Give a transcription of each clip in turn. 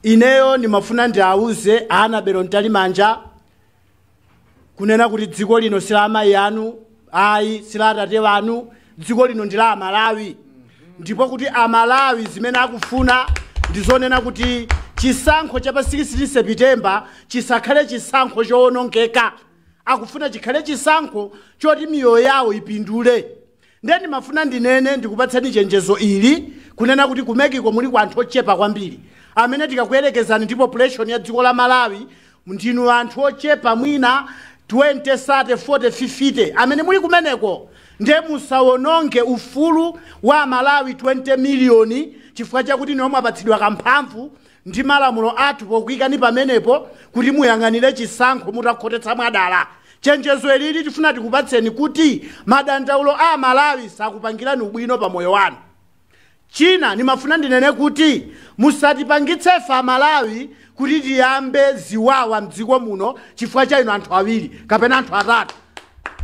ineyo ndimafuna ndiawuze anabero mtalimanja kunena kuti dziko lino si la amayi anu ayi si la atate wanu dziko lino ndi la amalawi ndipo kuti amalawi zimene akufuna ndizonena kuti chisankho cha pa 16 sepitembala chisakhale chisankho chowonongeka akufuna chikhale chisankho choti miyoyo yawo ipindule Ndiye ndimafuna ndinene, ndikupatsani chenjezo ili, kunena kuti ku MEC-ko muliko anthu ochepa kwambiri amene tikakuyerekezani ndi population ya dziko la Malawi, ndinu anthu ochepa mwina 20, 30, 40, 50 amene muli kumeneko. Ndiye musawononge ufulu wa Amalawi 20 miliyoni chifukwa chakuti inuyo mwapatsidwa kamphamvu ndi malamulo athu pokuikani pamenepo kuti muyang'anire chisankho mutakhotetsa mwadala. Chenjezo ilili tifuna tikupatseni kuti madandaulo a Amalawi sakupangirani ubwino pa moyo wanu. China, nimafuna ndinene kuti musatipangitse ife Amalawi kuti tiyambe ziwawa m'dziko muno chifukwa cha inu anthu awiri kapena anthu atatu.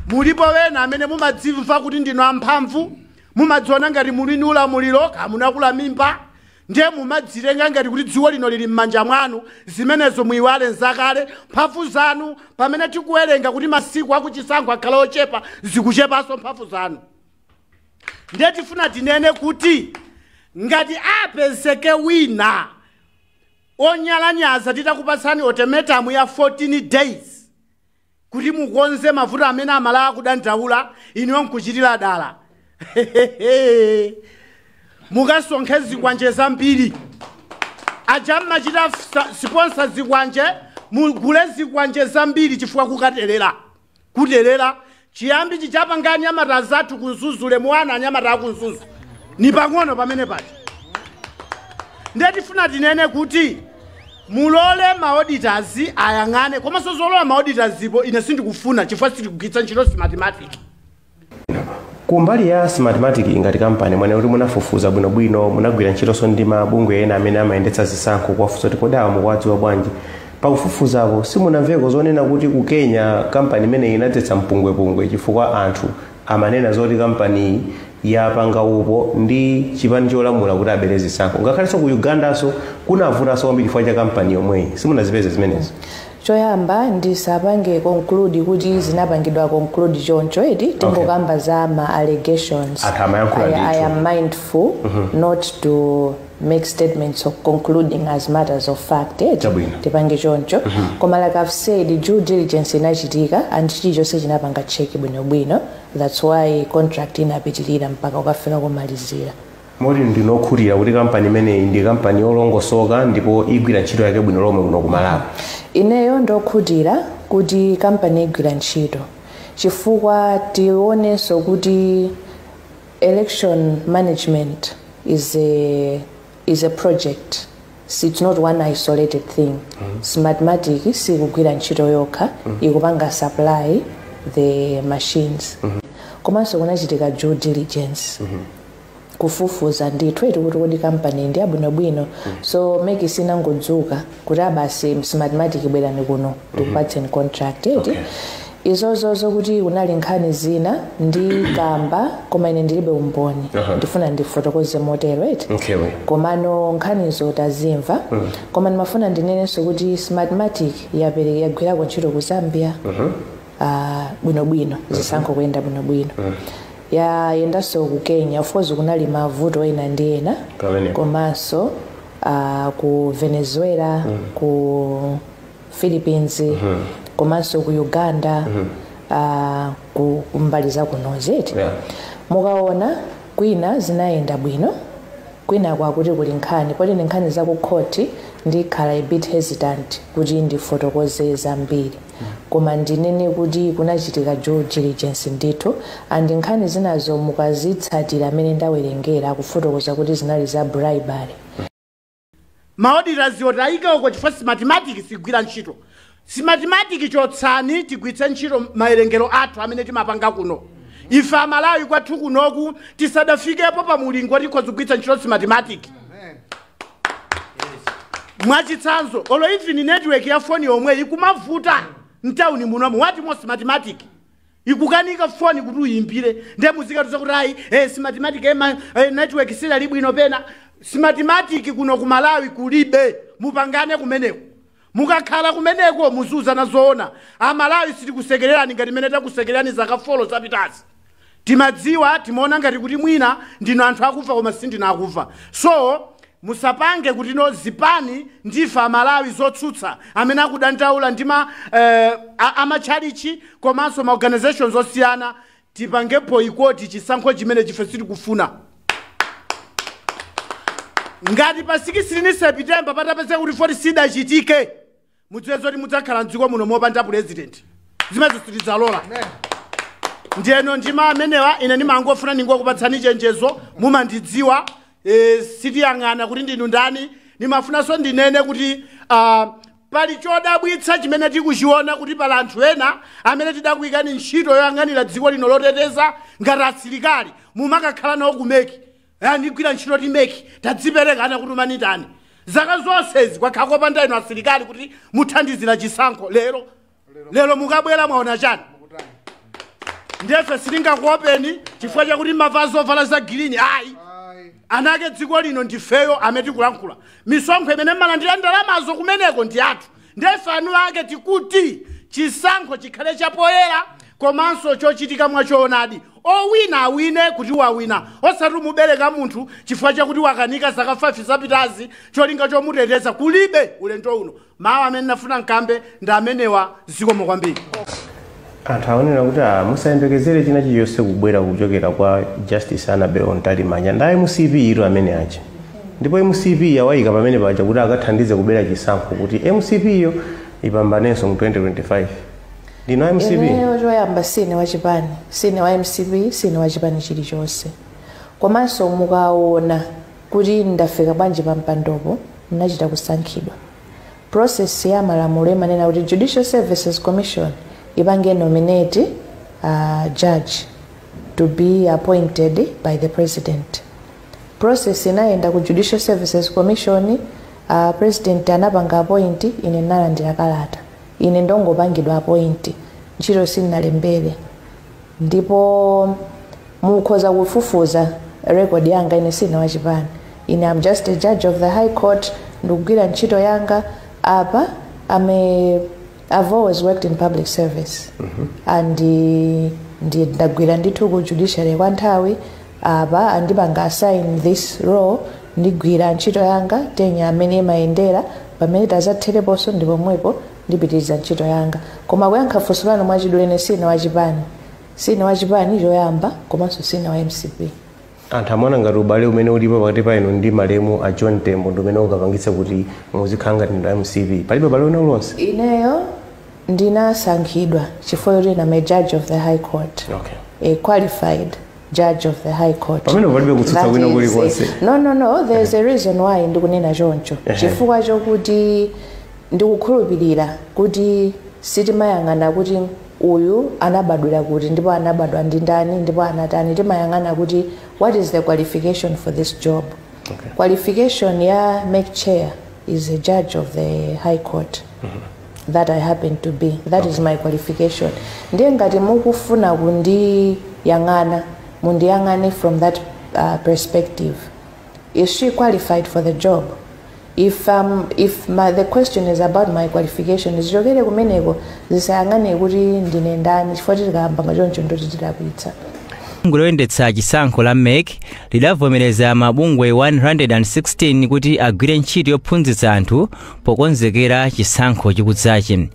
Mulipo ena amene mumadzimva kuti ndinu amphamvu, mumadziona ngati muli ndi ulamuliro, kaya munakula mimba, Ndiye mumadzitenga ngati kuti dziko lino lili mmanja mwanu, zimenezo muiwale nzakale, mphamvu zanu pamene tikuwerenga kuti masiku akuchisankho akhala ochepa zikuchepanso mphamvu zanu. Ndiye tifuna tinene kuti ngati apezeke wina onyalanyaza titakupatsani ultimatum ya 14 days, kuti mukonze mavuto amene amalawi akudandaula inuyo nkuchitira dala mukasonkhe zikwanje zambiri aja mmachita fsa- siponsa zikwanje mugule zikwanje zambiri chifukwa kukaterera kuterera chiyambichi chapanga anyamata anzathu ku mzuzu-le muwona anyamata aku mzuzu ni pang'ono pamene paja ndiye tifuna tinene kuti Mulole ma auditors ayang'ane, komanso zolola ma auditors zipo ine sindikufuna chifukwa sitikugwiritsa ntchito smartmatic. Kumbali ya smartmatic ngati kampani mwanena kuti munafufuza bwino bwino, munagwira ntchitonso ndi ma bungwe ena amene amayendetsa zisankho kuwafunsa kuti kodi awa mukuwadziwa bwanji. Pakufufuzapo simunamveko zonena kuti ku Kenya kampani imeneyi inadzetsa mpungwepungwe chifukwa anthu amanena zoti kampaniyi yapanga upo ndi chipani cholamula kuti abere zisankho ngakhalenso ku ugandanso kunavutanso kwambiri chifukwa cha kampani yomweyi simunazipeze zimenezo choyamba ndisapange conclude kuti zinapangidwa conclude choncho eti tingokamba za ma allegations Anthu amayankhula I, i ndithu. am mindful not to make statements of concluding as matters of fact eti Chabwino. tipange choncho koma like i've said due diligence inachitika and chilichonse chinapanga cheki bwinobwino that's why contract inapitirira mpaka kukafika komalizira moti ndine okhutira kuti kampani imeneyi ndi kampani yolongosoka ndipo igwira ntchito yake bwino lomwe kuno kumalawi ineyo ndokhutira kuti kampani igwira ntchito chifukwa tionenso kuti Election management is a, is a project So it's not one isolated thing smartmatic sikugwira ntchito yokha ikupanga supply the machines komanso kunachitika due diligence kufufuza ndithu eti kuti kodi kampani ndi yabwinobwino so meki sinangodzuka kuti abasi smartmatic bwerani kuno tikupatseni contract eti izozo zokuti kunali nkhani zina ndikamba koma ine ndilibe umboni Aha. ndifuna ndifotokoze motero eti komano nkhanizo tazimva koma ndimafuna ndinenenso kuti smartmatic yagwirako ntchito ku zambia ah, bwinobwino zisankho kuyenda bwinobwino yayendanso ku kenya of course kunali mavuto ena ndi ena komanso ah, ku venezuela ku philippines komanso ku uganda ah, ku ku mbali za kunozi eti Yeah. mukaona kwina zinayenda bwino kwina kwakuti kuli nkhani poti ndi nkhani za ku khoti ndikhala a bit hesitant kuti ndifotokoze zambiri koma ndinene kuti kunachitika due diligence ndithu and nkhani zinazo mukazitsatira amene ndawerengera kufotokoza kuti zinali za bribery ma auditors woti ayike uko chifukwa smartmatic sigwira ntchito smartmatic chotsani tigwiritse ntchito mawerengero athu amene timapanga kuno ife amalawi kwathu kunoku tisadafikepo pa mulingo woti tikhoza kugwiritsa ntchito smartmatic mwachitsanzo olo even network ya foni yomweyi ikumavuta mtauni munomu what more smartmatic ikukanika foni kuti uyimbire nde muzikatiuza kuti ayi eh, smartmatic eh, ma- eh, network sidali bwino pena smartmatic kuno ku malawi kulibe mupangane kumeneko mukakhala kumeneko muziuzana zoona amalawi sitikusekererani ngati mmene takusekererani zaka folo zapitazi timadziwa timaona ngati kuti mwina ndinu anthu akumva koma sindinu akumva so Musapange kuti ife no zipani ndife amalawi zotsutsa amene akudandaula ndi ma eeh a matchalitchi komanso ma organizations osiyana tipange boyikoti chisankho chimenechi ife sitikufuna ngati pa sikisitini sepitemba patapezeka kuti voti sidachitike mudziwe zoti mudzakhala mdziko muno mopanda pulezidenti zimezo sitidzalola ndiyeno ndi mawu amenewa ine ndimangofuna ndingokupatsani chenjezo mumandidziwa e, sitiyang'ana kuti ndinu ndani ndimafunanso ndinene kuti ah, pali chodabwitsa chimene tikuchiona kuti pali anthu ena amene tidakuyikani ntchito yoyang'anira dziko lino loteteza ngati asilikali mumakakhala nawo ku MEC kugwira ntchito ku MEC anakutumani ndani zaka zonsezi kwakhala kopanda inu asilikali kuti muthandizire chisankho lero lero mukabwera mwaona chani ndiyefe sitingakuopeni chifukwa chakuti mmavala zovala za girini ayi eni ake dziko lino ndifeyo amene tikulankhula misonkho imene mmalandira ndalamazo kumeneko ndi yathu Nde ife eni ake tikuti chisankho chikhale chapoyera komanso chochitika mwachoonadi. Owina awine kuti wawina osati kumubereka munthu chifukwa chakuti wakanika zaka 5 zapitazi cholinga chomuteteza kulibe ulendo uno. Mawu amene ndinafuna nkambe ndi amenewa zikomo kwambiri. Anthu akunena kuti a musayembekezere china chilichonse kubwera kuchokera kwa Justice Annabel Mtalimanja ndi a mcp tu amene aja ndipo mcp yawayika pamene paja kuti akathandize kubera chisankho kuti mcp yo ipambanenso mu 2025 ndinu a mcp ineyo choyamba sine wa chipani sine wa mcp sine wa chipani chilichonse komanso mukaona kuti ndafika bwanji pa mpandopo ndinachita kusankhidwa Process ya malamulo imanena kuti Judicial Services Commission ipange nominate a judge to be appointed by the president. Process inayenda ku Judicial Services Commission, a president anapanga appoint, ine ndinalandira kalata. Ine ndinangopangidwa appoint, ntchito sindinalembere. ndipo mukhoza kufufuza record yanga ine sine wa chipani ine am just a judge of the high court ndikugwira ntchito yanga apa am a, i've always worked in public service and eh, ndi- ndagwira ndithu ku judiciary kwa nthawi apa andipanga assign this role ndigwira ntchito yanga tenure mmene imayendera pamene idzathereponso ndi pomwepo ndipitiliza ntchito yanga koma kuyankha funso lanu mwachidule ine sine wa chipani sine wa chipani choyamba komanso sine wa mcp anthu amaona ngati ubale umene ulipo pakati pa inu ndi malemu a john tembo ndi umene ungapangitse kuti muzikhala ngati ndinu a mcp palibe ubale wina uliwonse ineyo ndinasankhidwa chifukwa choti ndine a judge of the high court okay. a qualified judge of the high court pamene palibe kutsutsa kwina kulikonse no no no there is a reason why ndikunena choncho chifukwa chokuti ndikukhulupirira kuti sitimayang'ana kuti uyu anabadwira kuti ndipo anabadwa ndi ndani ndipo anatani timayang'ana kuti what is the qualification for this job okay. qualification ya MEC chair is a judge of the high court mm -hmm. that I happen to be that okay. is my qualification ndiye ngati mukufuna kundiyang'ana mundiyang'ane from that uh, perspective is she qualified for the job if, um, if my, the question is about my qualification zichokere kumeneko zisayang'ane kuti ndine ndani chifukwa tikayamba choncho ndoti tidakwitsa bungwe loyendetsa chisankho la mec lidavomereza mabungwe 116 kuti agwire ntchito yophunzitsa anthu pokonzekera chisankho chikudzachi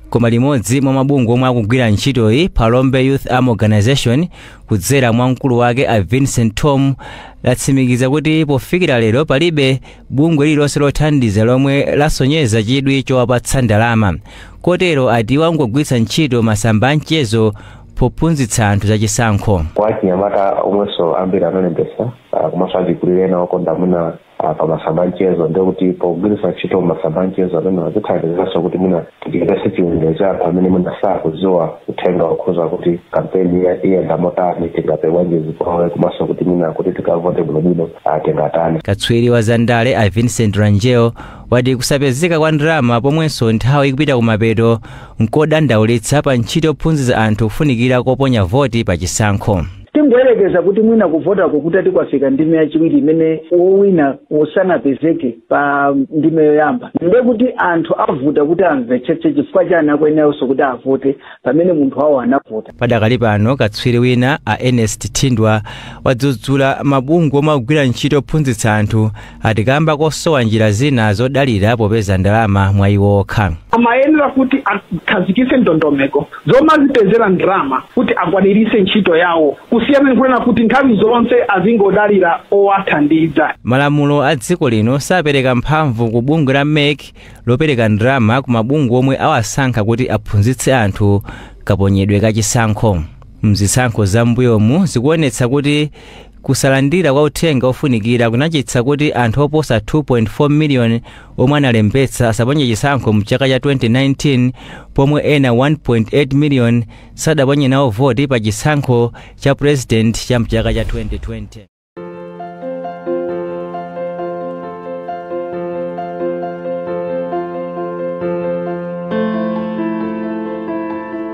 koma limodzi mwa mabungwe omwe akugwira ntchitoyi Phalombe Youth Arms organization kudzera mwa mkulu wake a Vincent Thom latsimikiza kuti pofikira lero palibe bungwe lililonse lothandiza lomwe lasonyeza chidwi chowapatsa ndalama kotero ati wangogwiritsa ntchito masamba a mchezo pophunzitsa anthu za chisankho kwa achinyamata omwenso ambiri analembesa ah, komanso achikulire ena okonda kuona ah, pa masamba amchezo ndiye kuti pogwiritsa ntchito masamba amchezo amene azithandizaso kuti mwina tichepese chiwerengero cha anthu amene mwina sakudziwa uthenga wokhuza kuti kampeni iya- iyenda motani tingapewe bwanji zipolowe komanso kuti mwina kuti tikavote bwinobwino ah, tingatani katswiri wa zandale a vincent rangel wati kusapezeka kwa ndalama pomwenso nthawi ikupita kumapeto nkodandaulitsa pa ntchito yophunzitsa anthu kufunikira koponya voti pa chisankho Tingoyerekeza kuti mwina kuvotako kutati kwafika ndime yachiwiri imene wowina sanapezeke pa ndime yoyamba, ndiye kuti anthu zivuta kuti amvetsetse chifukwa chani akuyeneranso kuti avote pamene munthu wawo anavota. Padakali pano, katswiri wina a Ernest Thindwa wadzudzula mabungwe omwe akugwira ntchito yophunzitsa anthu ati kamba kosowa njira zina zodalira popeza ndalama mwa iwo okha amayenera kuti akhazikise ndondomeko zomazipezera ndalama kuti akwanirise ntchito yawo kusiyana ndikunena kuti nthawi zonse azingodalira owathandiza malamulo a dziko lino sapereka mphamvu ku bungwe la mec zopereka ndalama ku mabungwe omwe awasankha kuti aphunzitse anthu kaponyedwe ka chisankho mzisankho za mbuyomu zikuonetsa kuti Kusalandira kwa uthenga ofunikira kunachititsa kuti anthu oposa 2.4 million omwe analembetsa asaponye chisankho mchaka cha 2019 pomwe ena 1.8 million sadaponye nawo voti pa chisankho cha president cha mchaka cha 2020.